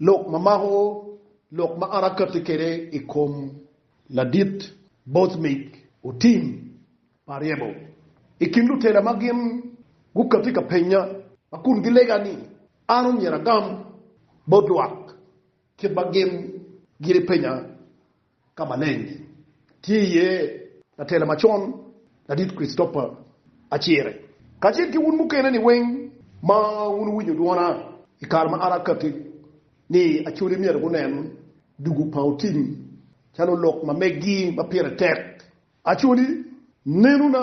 Lok ma mako lok ma an akatti kwede i kom Ladit Boothmeic otim pa ryebo i kin lutela ma gin gukatti ka penya ma kun gilega ni an omyero agam bot lwak kit ma gin giri penya. Ka maleng tye iye latela macon Ladit Christopher Acire kacel ki wun mukene-ni weng ma wun wuwinyo dwona i kare ma an akatti ni Acholi myero gunen dugu pa otim calo lok ma meggi ma pire tek. Acholi, nenona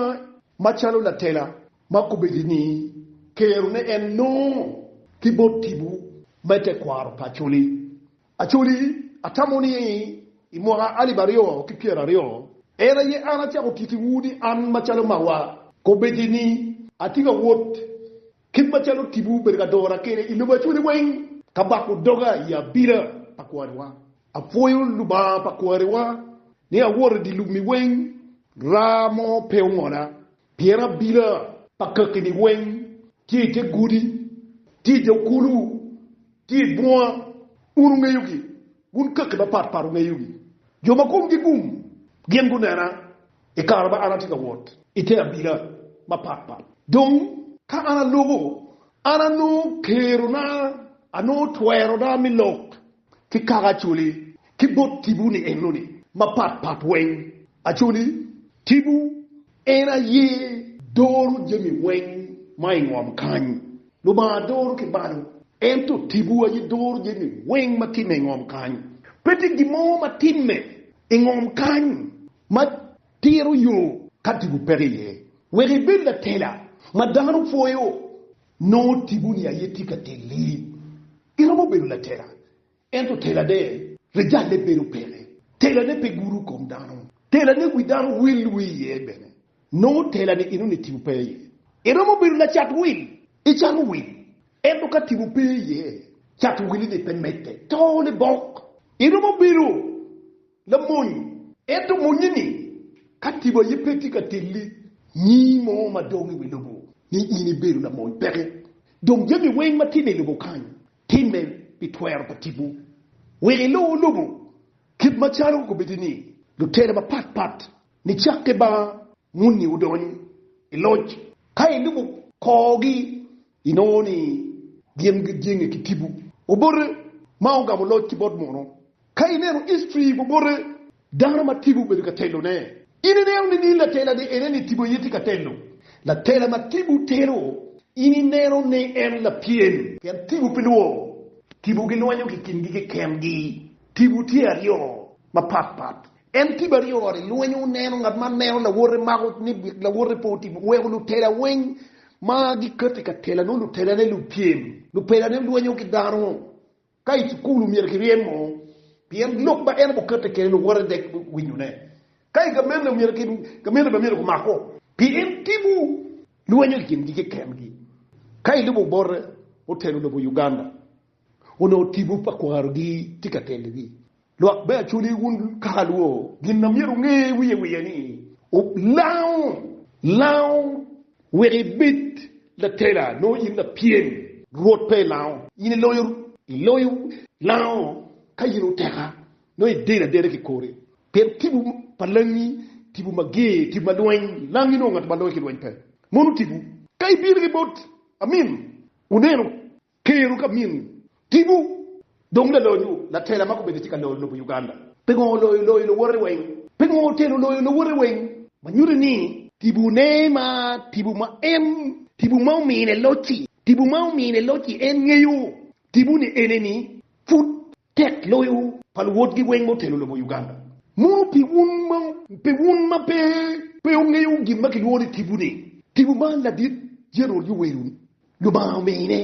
macalo latela ma kobedi ni kero ne en nongo ki bot tipo me tekwaro pa Acholi Acholi, atamo ni i mwaka alip aryo ki pyera aryo, en aye an acako tittiwu ni an macalo mawa kobeci ni atye ka wot kit macalo tipo bedo ka dora kede i lobo Acholi weng, ka bako doga i abila pa kwariwa. Apwoyo Lubanga pa kwariwa ni awoto i dye lubmi weng, raa mo pe ongola, Pien abila pa kakki-ni weng tye i te godi, tye i dog kulu, tye i bunga. Un wungeyogi, wun kakki mapat pat wungeyogi. Jo ma komgi gum gin gunena i kare ma an atye ka wot i te abila mapat pat. Dong ka an aloko, an anongo kerona, anongo twerona me lok. ki kaka Acholi ki bot tipo-ni enoni mapat pat weng. Acholi, tipo, en aye doro jami weng ma i ngom kany. Lubanga doro ki balo, ento tipo aye doro jami weng ma timme i ngom kany. Pe tye gin mo ma timme i ngom kany ma tito yo ka tipo peke iye. Wek ibed latela ma dano pwoyo, nongo tipo-ni aye tye ka teli. Iromo bedo latela, ento telane rijalle bedo peke. Telane pe gudo kom dano. Telane wi dano wil wi iye bene. Nongo telani enoni tipo pe iye. Iromo bedo lacat wil, icano wil, ento ka tipo pe iye, cat wilini pe medde, tone bok. Iromo bedo Lamony, ento monnye ni, ka tipo aye pe tye ka telli nyi mo ma dong i wi lobo, ni in ibedo lamony peke. Dong jami weng ma timme i lobo kany, timme pi twero pa tipo. Wek ilu lobo kit macalo kobeddi ni lutela mapat pat nicakke ba monni odony i loc. Ka ilubo korgi, Inongo ni gin gijenge ki tipo obote ma ogamo loc ki bot mono? Ka ineno history obote dano ma tipo obedo ka telone, in ineno ni ni latela ni ene ni tipo aye tye ka telo? Latela ma tipo telo in ineno ni en lapyem? Pien tipo pe lworo. Tipo gilwanyo ki kingi keken gi. Tipo tye aryo mapat pat. En tipo aryo oroto i lweny, oneno ngat ma neno lawote mako ni lawote pe otimo, oweko lutela weng ma giketo i ka tela nongo lutelane lupyem, lupelane lwenyo ki dano. Ka i cukul omyero kiryemo pien lok ma en obukette kede luwote dek winyone. Ka i gamene omyero ki gamene bene myero gumako pien tipo lwenyo i kingi keken gi. Ka ilubo bote, otelo lobo Uganda. Onongo tipo pa kwarogi tye ka telogi. Lwak me Acholi, wun kaka alwo, gin ma myero wunge wiye wiye ni, wulango lango wek ibed latela, nongo in lapyem. Rwot pe lango in iloyo, iloyo lango ka in oteka, nongo idedo adeda ki kori. Pien tipo pa langi tipo mager, tipo ma lweny, langi nongo ngat ma loyo ki lweny pe. Mono tipo ka ibino ki bot Amim, wuneno Keru ka min tibu dong lalonyo latela ma kobedi tye ka loyo lobo Uganda. Pingo oloyo loyo luwote weng? Pingo otelo loyo luwote weng? Ma nyuti ni tibu ne ma tibu ma en tibu ma omine loc-ci, tibu ma omine loc-ci en ngeyo tibu ni eneni pud. Tek loyo pa luwotgi weng motelo lobo Uganda. Mono pi wun ma pe wun ma pe pe wungeyo gin ma kilwongo ni tibu ni, tibu ma ladit General Yoweri ni Lubanga omine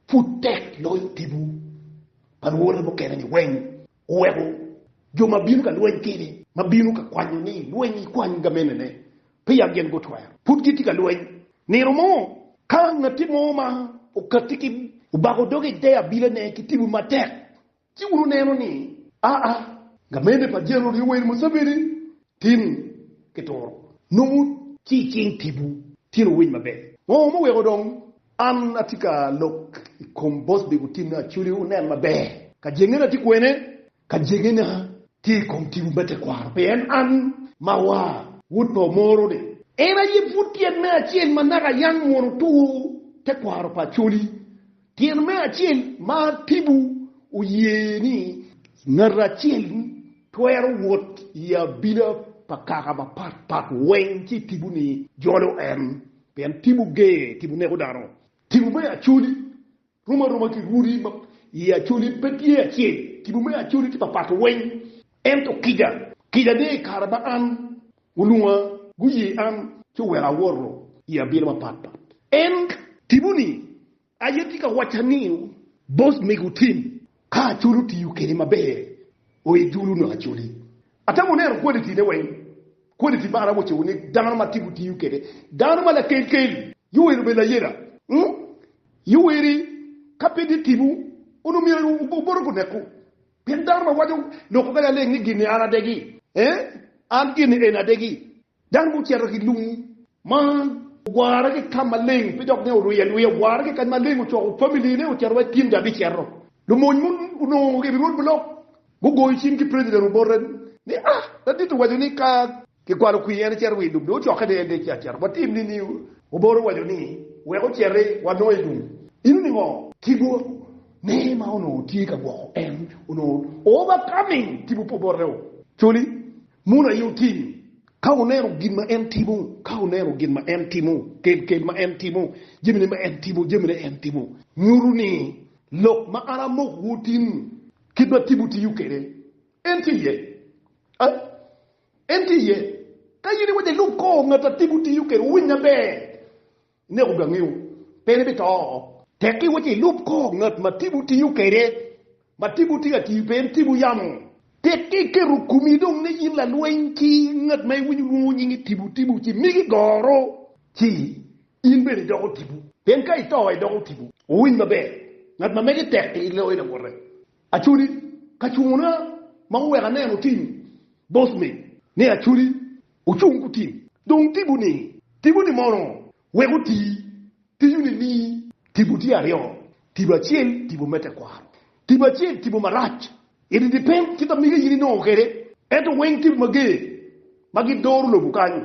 pud tek loyo tibu pa luwote mukene ni weng oweko jo ma bino ka lweny kede ma bino ka kwanyo ni lweny ikwany gamenene peya gin gutwero. Pud gitye ka lweny. Nino mo, ka ngatti mo ma okatti ki obako doge i te abilane ki tibu matek, ci wun wuneno ni, 'Aa, gamene pa Jenerol Yoweri Museveni tin kituro nongo ci i cing tibu tyen owiny maber. Ngo ma oweko dong an atye ka lok i kom Bosby Gutinne Acholi wunen maber? Kajengene atye kwene? Ka jegina tye i kom tipo me tekwaro, pien an ma wa wod pa omoro ni. En aye pud tyen me acel ma naka yam mwono two tekwaro pa Acholi. Tyen me acel ma tipo oye ni ngat acel twero wot i abila pa kaka mapat pat weng ci tipo ni jolo en, pien tipo ger, tipo neko dano. Tipo me Acholi Rom aroma ki rwodi ma i Acholi pe tye acel, kibo me Acholi tye papat weng, ento kica, kica ni i kare ma an gulunga, guye an ci oweko awoto i abino mapat pat. En kibo ni, aye tye ka wacca ni, Boss mego tim Ka Acholi otiyo kede maber, oe dulu nongo Acholi. Atemo neno quality ne weng, quality man awoco ni dano ma tye gutiyo kede, dano ma lakel kel, Yoweri obedo layela, umm Yoweri ka pe tye tibu onongo myero obote guneko, pien dano ma waco loko kadi aleng ni gini an adegi, eeh an gini eni adegi. Dano ma ocito ki lung ma ogware ki ka maleng pe dok ne orye arye, ogware ki kany maleng, ocoko family ne ocito wek gin gabicito. Lumony mo onongo i rwod bulok gugoyo cing ki president Obote ni ah ladit owaco ni ka kigwalo kwir en ecito wi lum dong ocokke ni en dong ecito acita watim ni ni Obote owaco ni wek ociti wanongo i lum ino ni ngo? Kibo ne ma onongo tye ka gwoko en onongo overcoming kibo pa Obote o coli Mono aye otim. Ka wuneno gin ma en timo, ka wuneno gin ma en timo, kel-kel ma en timo, jamine ma en timo, jamine en timo, nyuto ni lok ma an amokowu otim, kit ma timwu tiyo kwede, en tye iye. Ai, en tye iye. Ka in iwaco ilub kor ngat ma timwu tiyo kwede, wuwinye maber. Ineko gangeo, pien ibito oo. Tek iwa ci ilub kor ngat ma tipo tiyo kwede, ma tipo tye ka tiyo pe en tipo yamo. Tek iketo komi dong ni in lalweny ki ngat ma iwinyo lwongo nyinge tipo tipo ci migi goro, ci in bene idoko tipo. Pien ka ito idoko tipo. Wuwiny maber, ngat ma mege tek i loyo lawote. Acholi kacungona ma oweko aneno tim boss me. Ne acholi ocung kutim dong tipo ni tipo ni mono wek oti tiyo ni ni tipo tye aryo tipo acel tipo me tekwaro tipo acel tipo marac it depend ki tamiga in inongo kede ento weng tipo mager ma gi doro lobo kany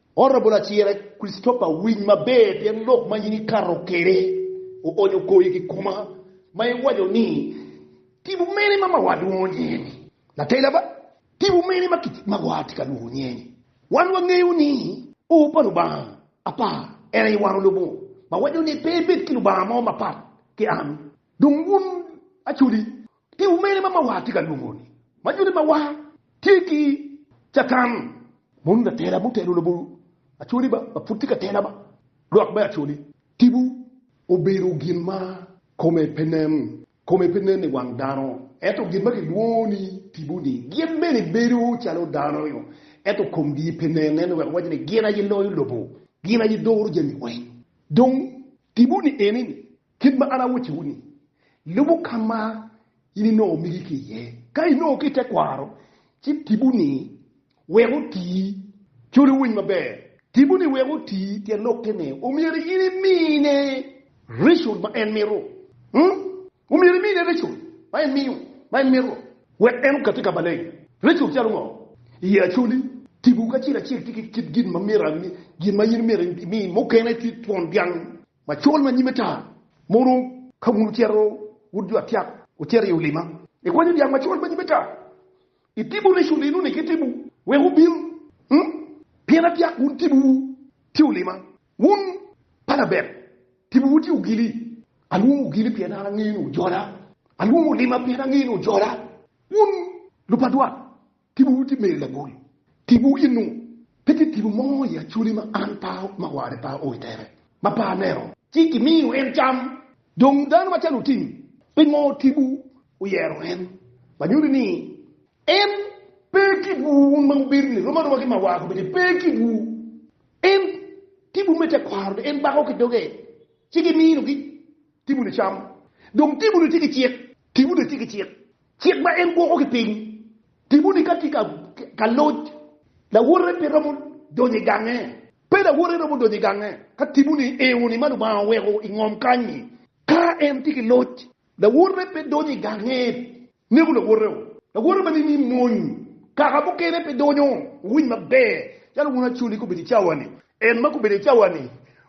Honorable Acira Christopher winy maber pien lok ma in ikato kwede oonyo kor i kikoma ma iwaco ni Tipo mene ma mawa lwongo nge ni? Natela ba, Tipo mene ma mawa tye ka lwongo nge ni? Wan wangeyo ni O pa Lubanga apar en aye wan olubo ma waco ni pe ebed ki Lubanga mo mapat ki an dong wun acoli. Pi umene ma mawar tye ka lwongo ni ma joni mawar tye ki catan moni latela ma otelo labongo acholi ba ma pud tye ka tela ba lwak me acholi. Tipo obedo gin ma kome pe nen, kome pe nen i wang dano ento gin ma kilwongo ni tipo ni gin bene bedo calo dano nyo ento komgi pe nen ento wek owaco ni gin aye loyo lobo, gin aye doro jami weng. Dong tipo ni eni ni Kit ma an awocciwu-ni, lubu ka ma in inongo migi ki iye. Ka inongo ki i tekwaro, ci tibu-ni wek oti. Col iwiny maber, tibu-ni wek oti tyen lokke ni, omyero in imine reco ma en mito. Omyero imine reco ma en miyo, ma en mito, wek en okatti ka maleng. Reco calo ngo? Iye acoli, tibu kacel acel tye ki kit gin ma myero, gin ma in myero imi. Mukene tye twon dyang, Macol ma nyime tar ma oro ka wun wucito wud jo atyak wucito i olima, ikwanyo dyang macol ma nyime tar, itibo reco linu ni ki tibu wek wubil, mm pien atyak wun tibu wu tye olima, wun pa labet tibu wu tye ogili, alwongo ogili pien an angeyo ni wujola, alwongo olima pien angeyo ni wujola, wun lupadwat Tibowu tye meyo lagol. Tibowu ye nung. Pe tye tipo mo i Acoli ma an pa ma warre pa o i tere, ma pe aneno. Ci gimiyo en cam. Dong dano macalo otim, pingo tipo oyero en? Ma nyuti ni en. Pe kitwu wun ma wubedo ni romo aroma ki ma war kobedi, pe kitwu. En tipo me tekwaro ni en bako ki doge, ci gimino gi tipo-ni cam. Dong tipo-ni tye ki cik, Timoni tye ki cik, cik ma en gwoko ki piny. Timoni ka tye ka loc, lawote pe romo donyo i gange. Pe lawote romo donyo i gange ka timoni eo ni ma Lubanga oweko i ngom kany-nyi. Ka en tye ki loc, lawote pe donyo i gange, neko lawote-o. Lawote ma nining mony? Kaka mukene pe donyo. Wuwiny maber, calo wun acoli gubedo i cawa-ni, en ma gubedo i cawa-ni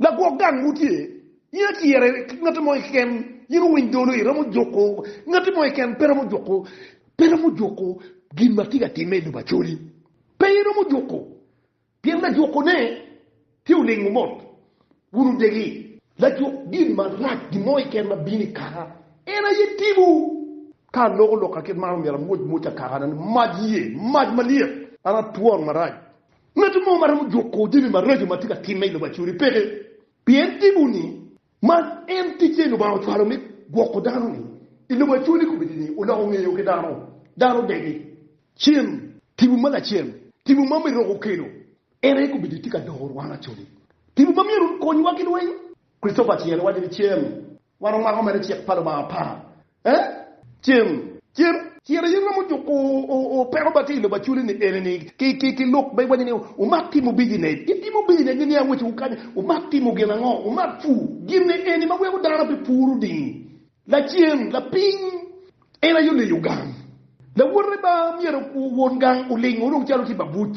Lagwok gang mo tye, in aciyere ki ngatti mo keken, in owiny dolo, iromo juku ngatti mo keken, pe romo juku, pe romo juku gin ma tye ka timme i lobo Acholi, pe iromo juku, pien lajuku ne tye olingo mot, wun odegi. Lajuk gin marac, gin mo keken ma bino i kaka, en aye tipo. Ka aloko lokka kit man, omyero amwoc mwocca kakane ni mac yee, mac malyet, an atwon marac. Ngat mo ma romo juko jami maraco ma tye ka timme i lobo acuri peke, pien tipo ni ma en ticce Lubanga ocwalo me gwoko dano ni i lobo acuri ni kobedi ni oloko ngeye o ki dano, dano odegi. Cen, tipo ma lacen, tipo ma Meroka okelo, en aye kobedi tye ka doko rwano acoli. Tipo ma myero okonywa ki lweny. Christopher Tien owaco ni cen wan omako mere cik pa Lubanga apar Cen, cen, ciro in romo juko opeko ba tye i lobo aculi ni eni ni ki lok ma i waco ni wumak timo bijinet, itimo bijinet ni niang weco wu kanya, wumak timo gin ango, wumak pur, gin ni eni ma weko dano pe pur oding, lacen, lapiny, en aye oleyo gang, lawote ba myero won gang oling orung calo tye babuc.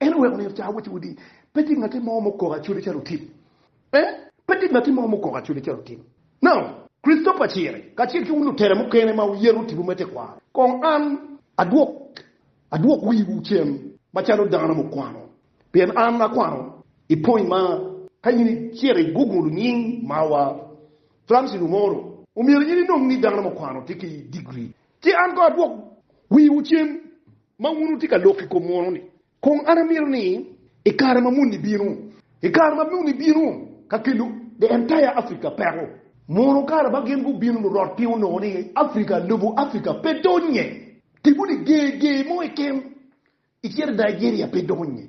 En oweko nino ca awacci wudi, pe tye ngatti mo mukoko acode calo otim. Eh, pe tye ngatti mo mukoko acode calo otim. No. Christopher Ciri, kacel ki wun lutela mukene ma wuyeto tipo me tekwaro, kong an adwok, adwok wiwu cen macalo dano mukwano, pien an akwano i pwony ma ka in icito i Google nying mawa, Francis Umoro, omyero in inong ni dano mukwano tye ki digri. Ci an kong adwok wiwu cen Ma wun wutye ka lok i kom munu-ni, kong an amito ni i kare ma muni bino, i kare ma muni bino, ka kelo the entire Africa peko, munu kare ma gin gubino lurot piny onongo ni Africa, lobo Africa pe donnye, tipo ni ger ger mo keken i cito Nigeria pe donnye,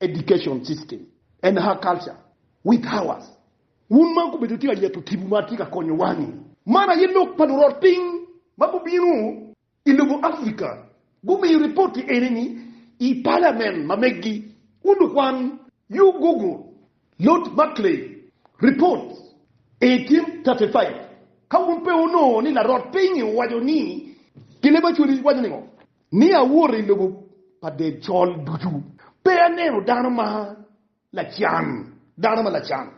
Education system and her culture with ours wun ma gubedo itye ka nyeto tibu ma tye ka konyo wang-ngi. Man aye lok pa lurot piny ma gubino i lobo Africa gumiyo ripoti eni-ni i palamen ma megi. Wun lukwan, you google Lord Macklay report 1835 ka wun pe wunongo ni larot piny-ngi owaco ni gin leb Acholi waco ningo. Ni awoto i lobo pa Decol ducu, pe aneno dano ma lacan, dano ma lacan,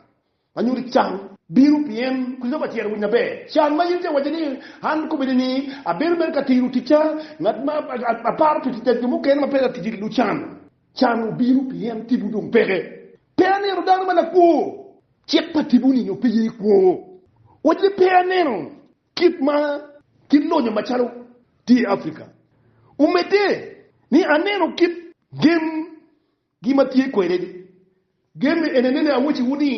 ma nyuto can, bino, pien Kricitofa tyero winyo maber can ma in itye ka wacce ni, An kobedi ni abedo mere ka tiro ticca, ngat ma aparo pi ticca, jo mukene ma peya ticca ki lucan. Can obino pien tipo dong peke. Pe aneno dano ma lakwo. Cik pa tipo-ni nyo pe ye kwo. Wacci ni pe aneno. Kit ma kit lonyo macalo tye i Afrika omedde ni aneno kit gem gi ma tye kwede ni gem eni anene awaci wu ni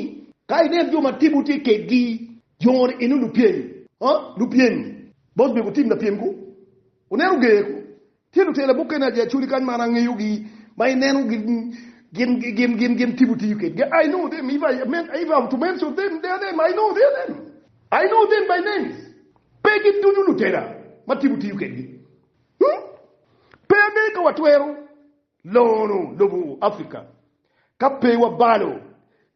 ka inen jo ma timwu tye kegi joni eni lupyem lupyem bot mego tim lapyem ku oneno ger ku Tye lutela mukene adi acoli kany ma an angeyogi ma ineno gin tipo tiyo kedgi? I know them if I have to mention them their name, I know their name, I know them by names. Pe gin ducu lutela ma tipo tiyo kedgi. Pe angeyo ka watwero longo lobo Africa ka pe wabalo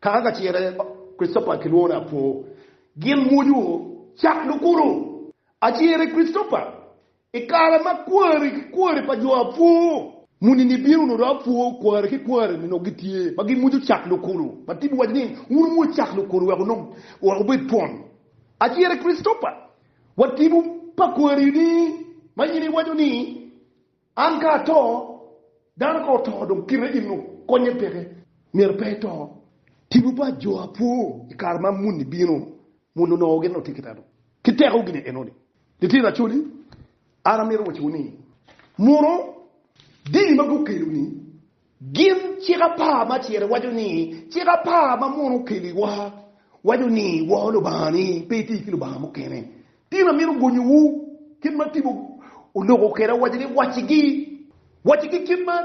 Kaka kacere Christopher kilwongo ni Apo gin mwoco cak lukuto acere Christopher i kare ma kwari ki kwari pa jo Apo muni ni bino noto Apo kwari ki kwari ni nongo gitye ma gin mwoco cak lukuto ma tip waco ni wun wumwoc cak lukuto wek onongo wek wubed twon acere Christopher wa tipo pa kwari ni ma in iwaco ni An ka ato, dano ka oto dong kite eno konye peke, myero pe eto. Tipo pa jo apwo i kare ma muni bino, muni onongo gin otye ki dano ki teko gini eno ni, Litino acoli, an amito wacowu ni, muno dini ma gukelo ni, Gin cik apar ma acel waco ni cik apar ma muno okeliwa waco ni wor Lubangani, pe iti ki lubanga mukene. Tin amito gonyowu kit ma tipo oloko kwede awaca ni wacigi, wacigi kit ma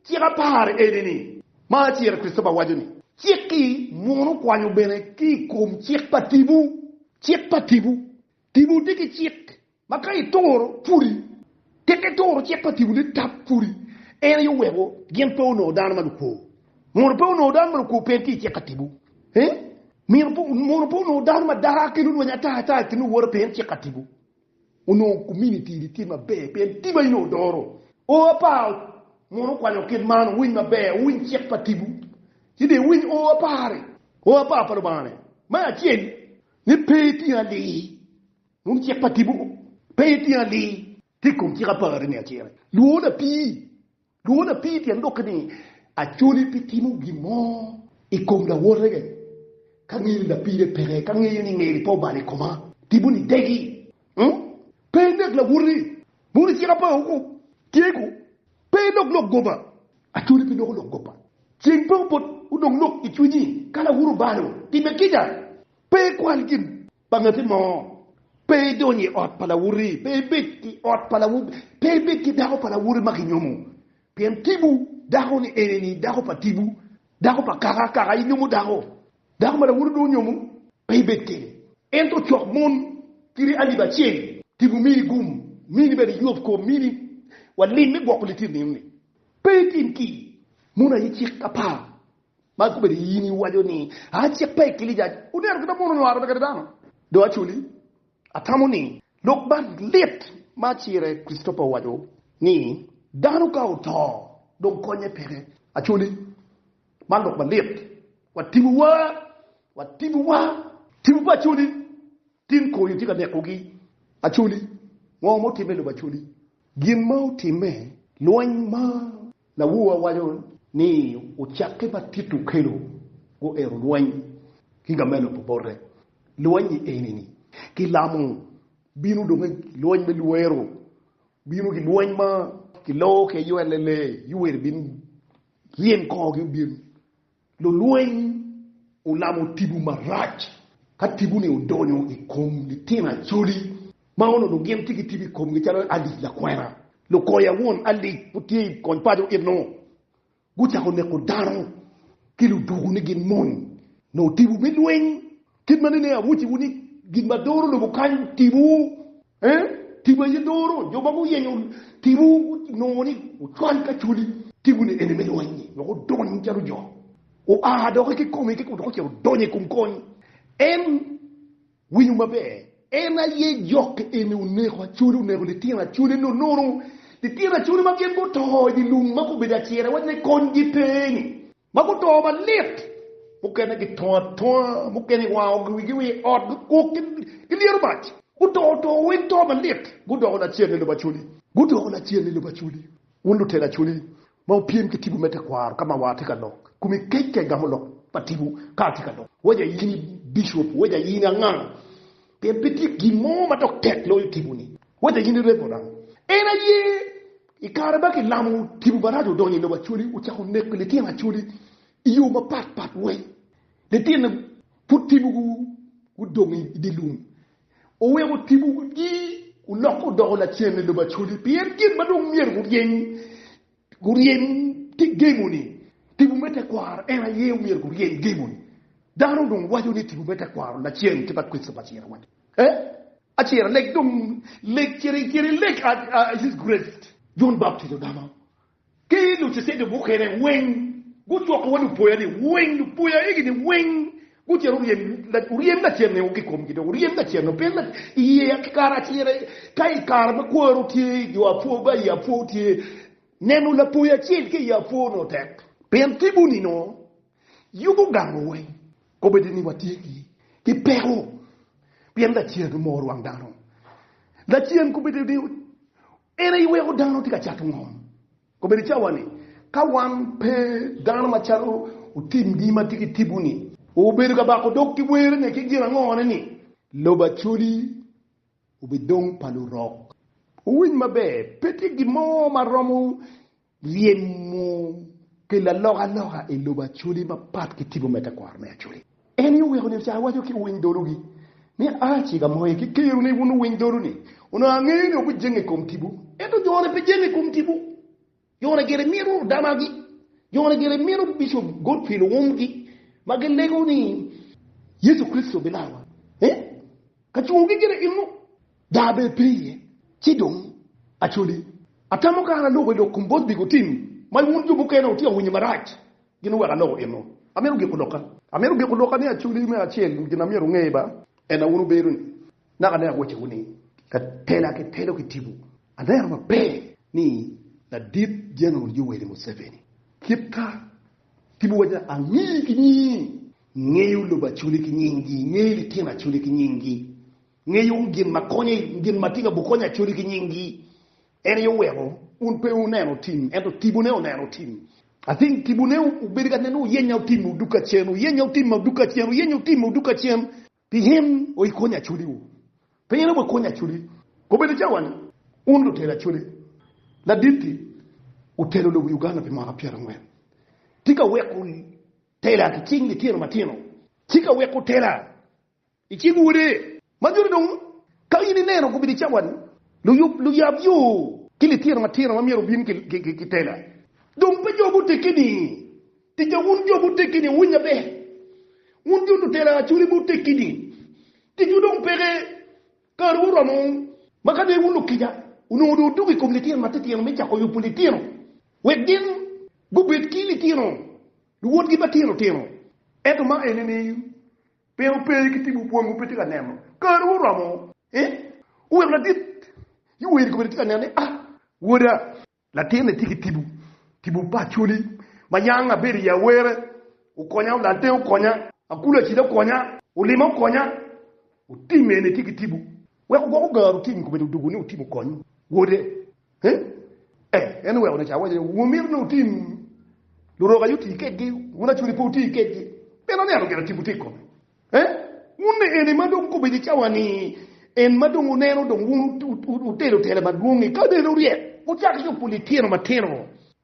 cik apar eni ni. Ma acel Kricitopa waco ni cik-ki muno kwanyo bene ki i kom cik pa tipo, cik pa tipo. Tipo tye ki cik ma ka ituro pudi, tek ituro cik pa tipo ni tap pudi, en aye oweko gin pe onongo dano ma lukwo. Mono pe onongo dano ma lukwo pe en tye i cik ka tipo? Mono pe onongo dano ma dara kene olweny ata ata i kin owote pe en cik ka tipo? Onongo kominiti ni tye maber pe en tipo aye onongo doro. O apa mono okwanyo kit man owiny maber, owiny cik pa tipo ci dong ewiny o apari, o apa pa Lubanga ne? Me acel, ni pe iting aling wun cik pa tipo, pe iting aling ki i kom cik apar ni acel, lwona pi lwona api tyen doki ni acoli pi timo gin mo i kom lawote ka ngeli lapide peke ka ngeyo ni ngeli pe obalo i koma tipo ni degi pe inek lawoti, moni cik apar woko tye ko pe ilok lok goba Acholi pe doko lok goppa. Ceng pe obot odong lok i cwinyi ka lawuro balo. Time kica, pe ikwal gin pa ngati mo. Pe idony i ot pa lawoti, pe ibed i ot pa lawoti, pe ibed ki dako pa lawoti ma ginyomo. Pien tipo dako-ni eni-ni dako pa tipo, dako pa kaka, kaka inyomo dako. Dako ma lawoti dong onyomo, pe ibed kene. Ento cok mon kiri alip acel, tipo mini gum, mini bene yub kom, mini walim me gwoko litino nino-ni. Pe itim ki mono aye cik apar ma akobbe-ni, i in iwaco ni, 'A cik pa ekilica oneno kit ma mono onyo arebe kede dano. Dong acoli, atamo ni lok man lit ma acire Kricitopa owaco ni, Dano ka oto, dong konye peke. Acoli, man lok malit. Wa tibuwa, wa tibuwa. Tibu pa acoli. Tim koyo tye ka nekogi. Acholi, Ngo ma otimme i lobo Acholi? Gin ma otimme, Lweny ma lawowa waco ni ocakke ma Tito okelo guero lweny ki ka me lobo bote. Lweny-nyi eni ni, ki lamo bino dong ki lweny me lwero, bino ki lweny ma ki loo ki aywelle lee, Yuweri bin ryem kor gi obin. Lulweny olamo tibu marac ka tibu-ni odonyo i kom litino Acholi ma onongo gin tye ki tibu i komgi calo Alice Lakwena. Lukoya won Alice pud tye i kony paco itno gucako neko dano ki luduku ni gin mony nongo tibu me lweny. Kit ma nene awocciwu ni gin ma doro lobo kany tipo, ee, tipo aye doro. Jo ma guyenyo tipo nongo ni ocwal ki achwali. Tiponi ene me lweny-nyi wek odony calo jo, oa dok i kikomi kiko dok ocito odonyo i kom kony. En, winyu maber, en aye jok eni oneko achwali, oneko litino achwali nonono, litino achwali ma gin guto i dye lum ma gubedo acira wacne konygi pe-ni. ma guto malit, mukene gitongo atonga, mukene iwango wigi wa i ot gukuk ki lyeto mac, guto to weng to malit, gudoko lacen ni lubaculi, gudoko lacen ni lubaculi, wun lutelo aculi ma wupyem ki tibu me tekwaro ka ma wa atye ka lok, kum i kec ka igamo lok pa tibu ka atye ka lok, weja in i bicop, weja in i anganga, pien pe tye gin mo ma dok tek loyo tibu-ni, weja in i reverend, en aye I kare ma kilamo, tipo maraco odonyo i lobo Acholi, ocako neko litino Acholi i yo mapat pat wek litino pud tipo gudong i dye lum. Oweko tipo gi olokke odoko lacen i lobo Acholi pien gin ma dong myero guryem ki gemo ni tipo me tekwaro en aye myero guryem gemo ni. Dano dong waco ni tipo me tekwaro lacen ki ba Kricito pa tyen awacci. Jon Baptija ogamo ki lucicia mukene weng gucoko wa lupoya ni weng lupoya egi ni weng gucito oryem lacen ni ki komgi dong oryem lacen ni pien iye ki kare acel ka ikare ma kwaro tye jo apwoo ba i apwoo tye neno lapoya acel ki i apwoo nongo tek pien tibuni nongo yubu gamo weng Kobedi ni watye ki peko pien Lacen omoro wang dano. Lacen kobedi ni en aye weko dano tye ka cato ngom. Kobedi cawa-ni, ka wan pe dano macalo otimgi ma tye ki tipo-ni, obedo ka bako dog ki werone ki gin angone-ni? Lobo Acholi obidong pa lurok. Wuwiny maber, pe tye gin mo ma romo Ryemo pi lalokaloka i lobo Acholi mapat ki tipo me tekwaro me Acholi. En aye oweko nyo ca awaco ki owiny dologi ni, A ci ka moye ki keru ni wun owiny dolu ni, onongo angeyo ni wubijenge i kom tipo. Ento jone pe jenge i kom tipo. Jone gire mito damagi. Jone gire mito Bishop Godfrey Luwumgi ma gilego ni, Yecu Kricito bilarowa. Ee, kacungogi gire innu. Daa bene pe iye, ci dong acwodi. Atamo kara aloko i lok kom bot bikotin ma wun jo mukene wutye ka winyo marac gin wek aloko enno. Amito giko lokka. Amito giko lokka ni acwodi me acel gin ma myero wunge ba en a wun wubedo ni naka ne awacowu ni ka tela ki telo ki tipo aneno maber ni ladit General Yoweri Museveni kit ka tipo waco ni angeyi ki nyingi, ingeyo lobo acwodi ki nyingi, ingeyo litino acwodi ki nyingi. Ngeyo wun gin ma konyo, gin ma tye ka bukonyo acoli ki nyinggi. En aye oweko wun pe wuneno otim, ento tibune oneno otim. I think tibune obedo ka neno oyenyo otim odug kacen, oyenyo otim odug kacen, oyenyo otim odug kacen. Pien o ikonyo acoliwu. Pe in aye wa konyo acoli. Obedo cawa ni wun lutelo acoli laditti wutelo lobo Uganda pi mwaka pyera ngwen. Tika weko tela ki cing litino matino? Tika weko tela I cing Wode. Ma nyuto dong ka in ineno gubedo i cawa ni luyub, luyab yo, ki litino matino ma myero obin ki tela. Dong pe jo gutegi ni tica, wun jo mutegi ni wuwiny maber, wun jo lutela cwinyi pe otegi ni ticwu dong peke, kariwu oromo, ma ka dong wun lukica onongo dong odoko i kom litino matitino me cako yubo litino wek gin gubed ki litino luwotgi matino tino. Ento ma ene ni Pien ope ki timo bwomwu pe tye ka neno, kare oromo eh, oweko ladit yi weri kobedi tye ka neno ni ah, woda. Latin ni tye ki tipo, tipo pa acholi, ma yang abedo iyi awere, okonya, olal tenge okonya, akulu acida okonya, olima okonya, otim eni tye ki tipo, weko gwoko gar otim kobedi odugu ni otim okony wode, Ee, en oweko nica. Awaco ni, Wumito ni wutim lurok aye oti kedgi, wun acwali pe wuti kedgi? Pien aneno gire tipo tye i kome. Ee, wun ni eni ma dong kobedo i cawa-ni, en ma dong wuneno dong wun wutelo tela madwong-ngi, kadi en oryek, wucako yubo litino matino.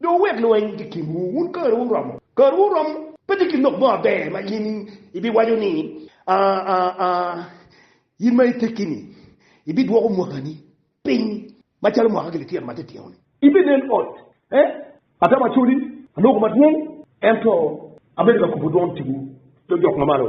Dong wuwek lweny wot i kinwu, wun kariwu oromo. Kariwu oromo! Pe tye gin lok mo maber ma in ibiwaco ni, In ma itekki-ni, ibidwoko mwakani piny macalo mwaka ki lityen ma titino-ni. Ibinen ot, ata macodi, aloko madwong, ento abedo ka kubo dwon ticwu, jo jok mamalo.